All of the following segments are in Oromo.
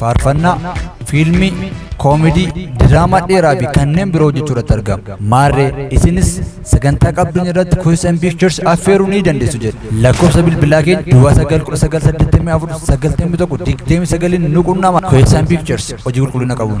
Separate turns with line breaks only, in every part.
faarfannaa, fiilmii, koomedii, diraamaa dheeraa fi kanneen biroo hojjechuu irratti argama. Maarree isinis sagantaa qabdan irratti Kuusis and Pictures affeeruu ni dandeessu jedha. Lakkoofsa bilbilaa keenya duwwaa 91984 91 29 nu qunnama. Kuusis and Pictures hojii qulqullina qabuun.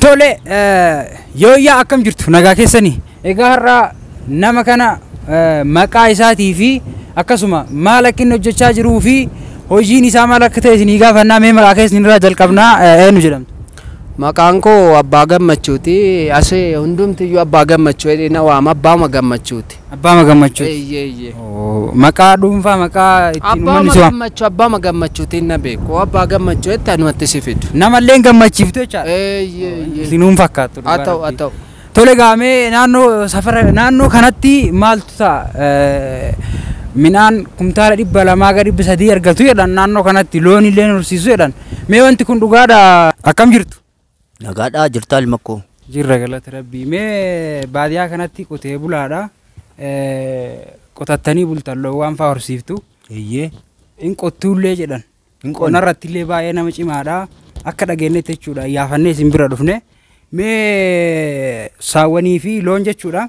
Tole yooyyaa akkam jirtu nagaa keessanii egaa har'a nama kana eh, maqaa isaatii fi akkasuma maal akka inni hojjechaa jiruu fi hojiin isaa maal akka ta'e isinii gaafannaa mee maqaa keessan irraa jalqabnaa eh, eenyu jedhamtu. Maqaan koo
Abbaa Gammachuuti. Asi hundumtiyyuu Abbaa Gammachuu jedhee na waama. Abbaama Gammachuuti. Abbaama Gammachuuti.
Eeyyee eeyyee.
Oo, Maqaa
dhuunfaa maqaa ittiin uummanni Abbaama si waama. Gammachuu Abbaama Gammachuutiin
na beeku. Abbaa Gammachuu jette anumatti si fidu. Namallee hin
gammachiiftu
jechaadha. Eeyyee eeyyee. Isinuun fakkaattu
Haa
dhugaa ta'u
haa rabbii.
ta'u.
Tole egaa mee naannoo safara naannoo kanatti maaltu ta'a? Midhaan kumtaala dhibba lamaa ga dhibba sadii argatu jedhan naannoo kanatti loon illee horsiisu jedhan. Mee wanti kun dhugaadha akkam jirtu? Nagaadhaa
jirtaa ilma koo. Jirra galata rabbii.
Mee baadiyaa kanatti qotee bulaadha. Qotattanii bultan loowwan fa'aa horsiiftu. Eeyyee.
In qottuullee
jedhan. hin qonna irratti illee baay'ee nama cimaadha akka dhageenyetti jechuudha iyyaafannee isin bira dhufne mee saawwanii fi loon jechuudha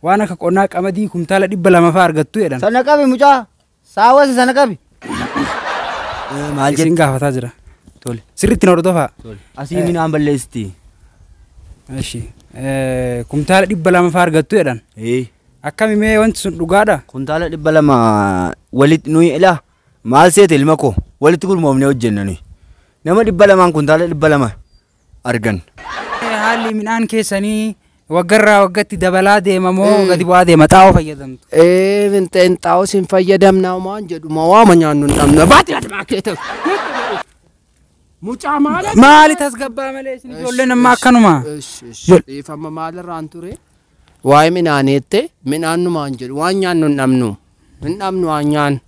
waan akka qonnaa qamadii kumtaala dhibba lama fa'aa argattu jedhan Sana qabi mucaa.
Saawwasi sana qabi. maal isin jedhe gaafataa
jira tole sirriitti na hordofaa asii minaan
balleessitti
Eshi kumtaala dhibba lama fa'aa argattu jedhan akkami mee wanti sun dhugaadha kuntaala dhibba lama
walitti nuyi ilaa Maal seete ilma koo walitti gurmoofnee hojjenna nuyi. Nama dhibba lamaan kuntaala dhibba lama arganna. Haalli
midhaan keessanii waggarraa waggatti dabalaa deema moo Eh. gadi bu'aa deema? Xaa'oo fayyadamtu. Ee finxeen
xaa'os hin fayyadamna homaan jedhu ma waama nyaannu hin dhabna. Baati ati maakeeta. Mucaa maala. Maali tasgabbaa
malee isin ijoolleen amma akkanuma. Ish, ish, Jol- Dhiifama
maalirraan ture? Waa'ee midhaanii jette midhaan numaan jedhu waan nyaannu hin dhabnu. Hin dhabnu waan nyaannu.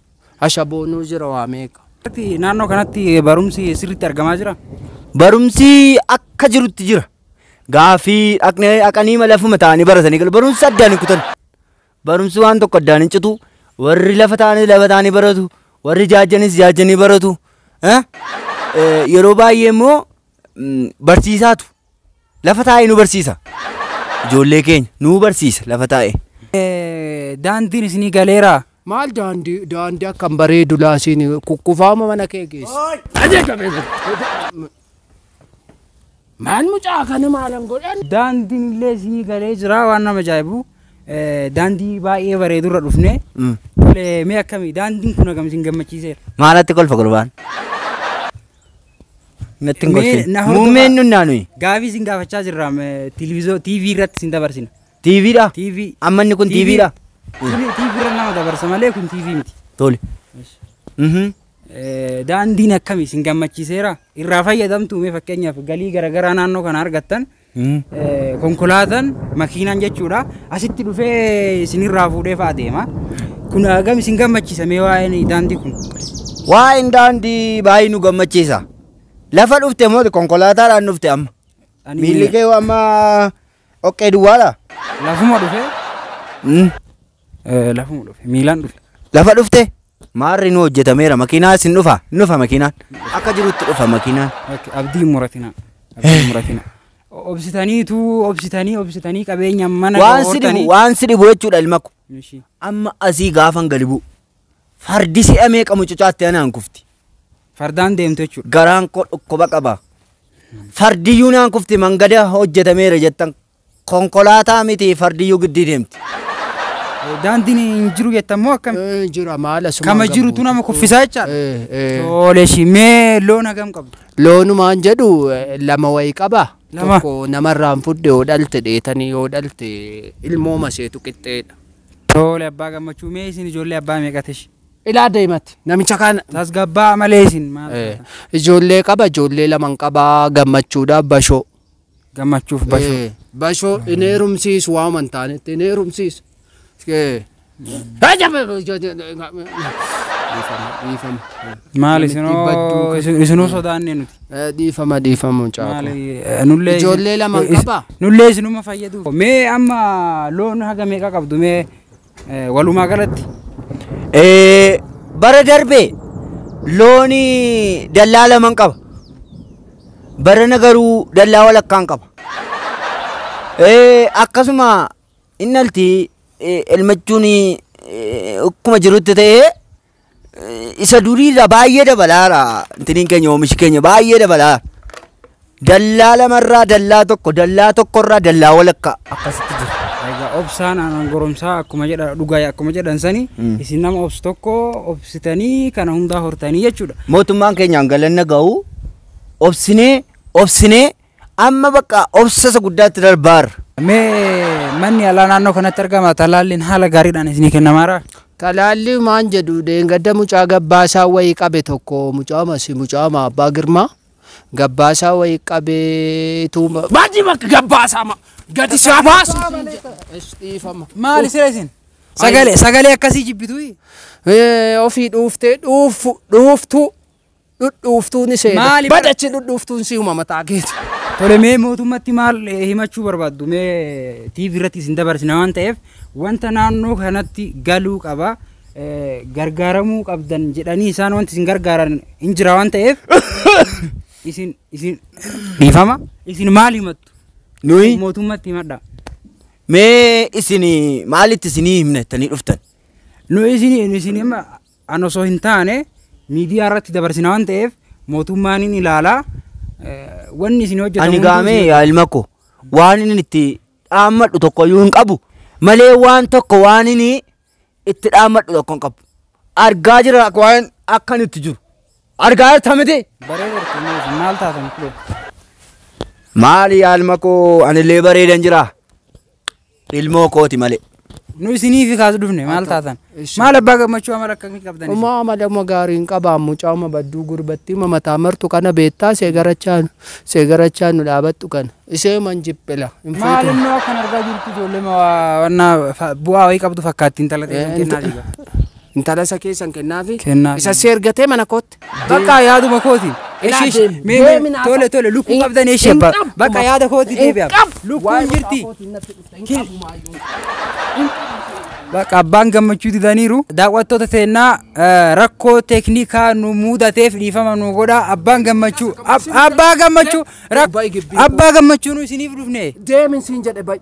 Ashaboo nuu jira waa meeqa. Irratti naannoo kanatti
barumsi sirriitti argamaa jira? Barumsi
akka jirutti jira. Gaafii dhaqnee dhaqanii malee afuma ta'anii baratanii galu. Barumsi addaan hin kutan. Barumsi waan tokko addaan hin citu. Warri lafa ta'anii lafa ta'anii baratu. Warri jaajjanis jaajjanii baratu. Eh? Eh, Yeroo baay'ee immoo mm, barsiisaatu Lafa taa'ee nu barsiisa. Ijoollee keenya nu barsiisa lafa taa'ee. Daandiin isinii
galeeraa? Maal daandii
daandii akkam bareedu laasiin kukkufaama mana kee geessi. Maal mucaa kana maalan godhan? Daandiin illee isinii
galee jira waan nama ajaa'ibu. Daandii baay'ee bareedurra dhufne. Mee akkamii daandiin kun akkam isin gammachiiseera? Maalatti kolfa gurbaan?
Natti hin Mee gorsin. na hordofaa. Muummeen nunnaa nuyi. Gaafii isin gaafachaa jirra
televiziyoon TV irratti isin dabarsina. TV dha. TV.
Amma inni
kun TV dha.
Kun TV irra
nama dabarsa malee kun TV miti. Tole.
Mhm. Eh,
Daandiin akkami isin gammachiiseera? Irraa fayyadamtu mee fakkeenyaaf galii garaagaraa naannoo kana argattan Konkolaataan makiinaan jechuudha asitti dhufee isinirraa fuudhee fa'a deema. Kun hagam isin gammachiisa mee waa'een daandii kun? Waa'een
daandii baay'ee nu gammachiisa. Lafa dhufte moo konkolaataadhaan dhufte amma? Ani Miilli kee amma oqqee duwwaadha? lafuma dhufee
Mm. Eh, Lafuma dhufe. Miilaan dhufe. Lafa dhufte
maarri nu hojjetameera makiinaa isin dhufa hin dhufa makiinaan akka jirutti dhufa makiinaan. Okay, Abdii hin muratina.
Abdii hin muratina. Obsitaniitu obsitanii obsitanii qabeenya mana Waan si dhibu waan si dhibu
jechuudha ilma ko. Ishii. Amma asii gaafan gadi bu'u. Fardi si'a meeqa mucucaatti anaan kufti. Fardaan deemtu
jechuudha. Garaan koo dhukkuba
qaba. Fardiyyuu naan kufti mangada hojjetameera jettan Konkolaataa miti fardiyyuu giddii deemti.
Daandiin hin jiru jettan moo akkam? Eh, Jira maal asumaan
Kama jirutu gabbuuti. nama kuffisaa
jechaadha. Eh, eh. Tole ishii mee loon hagam qabdu? Loonumaan jedhu
eh, lama wayi qaba. Lama. Tokko namarraan fudhe yoo dhalte dheetanii yoo dhalte ilmoo maseetu qixxeedha. Tole abbaa
gammachuu mee isin ijoollee abbaa meeqati ishii? Ilaa deematti
namicha kana. Tasgabbaa malee isin
maal? Eh, Ijoollee qaba
ijoollee laman qaba gammachuudhaaf bashoo. Gammachuuf
basho. Eh, basho hin
heerumsiisu waama hin taanetti hin heerumsiisu. Eh, Dhiifama,
dhiifama. Maal Namitti isinoo badduu kan- isin- isinoo sodaannee nuti. Eh, Dhiifama dhiifama
mucaa Maali koo. eh, nullee isin-
Ijoollee lama is- qabaa?
Nullee isinuma fayyaduuf.
Mee amma loon haga meeqa qabdu mee Walumaa galatti
bara darbe loon dallaa laman qaba. Barana garuu dallaa walakkaan qaba. Akkasuma innalti elmachuun akkuma jirutti ta'ee isa durii irraa baay'ee dabalaara intiniin keenya oomishi keenya baay'ee dabalaa dallaa lamarraa dallaa tokko dallaa tokkorraa dallaa walakkaa akkasitti jira. Egaa obsaan
aanan goromsaa akkuma jedha dhugaa akkuma jedhan sani Mm. isin nama obsu tokko obsitanii kana hundaa hortanii jechuudha. mootummaan keenyaan
galanna ga'u obsinee obsinee Amma bakka obsa isa guddaatti darbaarra. Mee
manni yaalaa naannoo kanatti argama talaalliin haala gaariidhaan isinii kennamaara? Talaallii maan
jedhu dheengadda mucaa gabbaasaa wayii qabe tokko mucaama si mucaama abbaa girmaa gabbaasaa wayii qabee ituu ma- Maadii bakka gabbaasaa ma gadi isaa baasu. Is dhiifama. Maali sira isin?
Sagalee sagalee akkasii jibbitu? Eh,
ofii dhuuftee dhuuftu dhuuftu dhudhuuftuu ni seeda. Maali bara- Badachi dhudhuuftuun si'uma mataa keeti. Tole mee
mootummatti maal eh, himachuu barbaaddu mee TV irratti isin dabarsina waan ta'eef wanta naannoo kanatti galuu qaba eh, gargaaramuu qabdan jedhanii isaan wanti isin gargaaran hin jira waan ta'eef isin isin dhiifama isin maal himattu Nuyi mootummatti
himadha
mee
isin maalitti isinii himnettanii dhuftan? nu isin
isin amma an osoo hin taane miidiyaa irratti dabarsina waan ta'eef mootummaan hin ilaala wanni isin hojjetan ani gaamee yaa ilma
koo waan inni itti dhaammadhu tokko iyyuu hin qabu malee waan tokko waan inni itti dhaammadhu tokko hin qabu argaa jira waan akkan itti jiru argaa jirta miti maal
taatan
maali yaa ilma koo anillee bareedan jira ilmoo kooti malee. Nu isiniifi
kaas dhufne maal taatan? Maal abbaa gammachuu amala akkamii qabdan? isin? Uma amala uma gaarii
hin qabaan mucaa uma badduu gurbattii uma mataa martu kana beektaa seegarachaa nu seegarachaa nu dhaabattu kana isee man jiphila hin Maal fuutu. immoo akkan
argaa jirtu ijoollee ma waa- wannaa fa- bu'aa wayii qabdu fakkaatti intala ta'e Eh, kennaa inta- jira. Intala isa
keessan kennaafi Kennaafi. isa seergatee
mana
kootti. Bakka yaaduma
kooti. Eshi eshi mee mee tole tole lukkuu qabdan eshi abba. Bakka yaada kooti deebi'a. Lukkuun jirti. Kil- Bakka abbaan gammachuu didaniiru. Daawwattoota teennaa eh, rakkoo teeknikaa nu muudateef dhiifama nu godha. Abbaan gammachuu ab- abbaa gammachuu rak- abbaa gammachuu nu isiniif dhufne. Deemin siin jedhe bayi.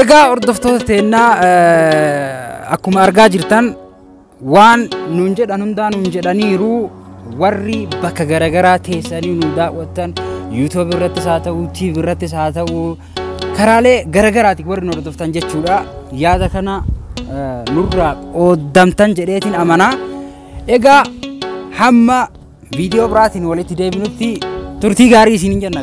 Egaa hordoftoota teennaa eh, akkuma argaa jirtan waan nuun jedhan hundaa nuun jedhaniiru warri bakka garaagaraa teessanii nu daawwattan yuutuub irrattis haa ta'u tiiv irrattis haa ta'u karaalee garaagaraatiin warri nu hordoftan jechuudha yaada kana eh, nurraa qooddamtan jedheetiin amanaa egaa hamma viidiyoo biraatiin walitti deebinutti turtii gaarii isiniin jenna.